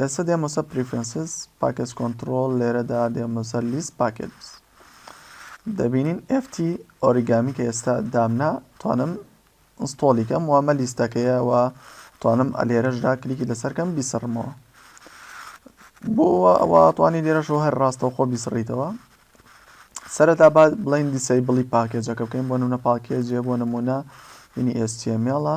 ئێستا دێمە سەر پریفرنسز پاکێج کۆنترۆل لێرەدا دێمە سەر لیست پاکێجز دەبینین FT ئۆریگامی کە ئێستا دامنا توانم ئینستۆڵی کەم وامە لیستەکەیە و توانم ئەلێرەشدا کلیکی لەسەرکەم بیسڕمەوە بۆ ئەوە توانی لێرەشەوە هەر ڕاستەوخۆ بیسڕیتەوە سەرەتا با بڵین دیسەی بڵی پاکێجەکە بکەین بۆ نمونە پاکێجێ بۆ نمونە یعنی ئێستێمێڵە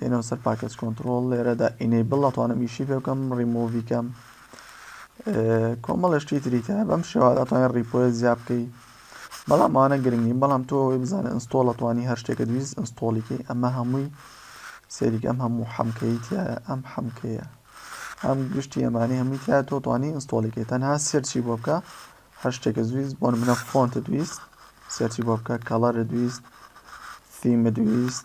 دێنەوە سەر پاکێج کۆنترۆڵ لێرەدا ئینەیبڵ ئەتوانم ئیشی پێ بکەم ڕیمۆڤی کەم کۆمەڵە شتی تری تە بەم شێوا دەتوانێت ڕیپۆە زیاب بکەی بەڵام ئەوانە گرنگی بەڵام تۆ ئەوەی بزانە ئەنستۆڵ ئەتوانی هەر شتێکە دویست ئەنستۆڵیکەی ئەمە هەمووی سەریک ئەم هەموو حەمکەی تایە ئەم حەمکەیە ئەم گشتی ئەمانی هەمووی تیا تۆ توانی ئەنستۆڵیکەی تەنها سێرچی بۆ بکە هەر شتێکە دویست بۆن منە فۆنتە دویست سێرچی بۆ بکە کەڵەرە دویست ثیمە دویست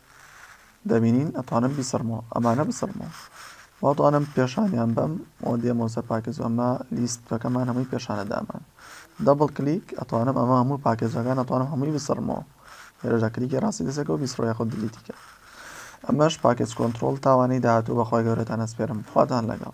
دەبینین ئەتوانم بیسڕمەوە ئەمانە بسڕمەوە واتوانم پێشانیان بەم و دێمەوە سەر پاکێج ئەمە لیستەکەمان هەمووی پێشانە دامان دەبڵ کلیک ئەتوانم ئەمە هەموو پاکێجەکان ئەتوانم هەمووی بسڕمەوە هێرەدا کلیکی ڕاستی دەسەکە و بیسڕۆ یاخود دلیتیکە ئەمەش پاکێج کۆنتترۆل تاوانەی داهاتوو بەخوای گەورەتان ئەسپێرم خواتان لەگەڵ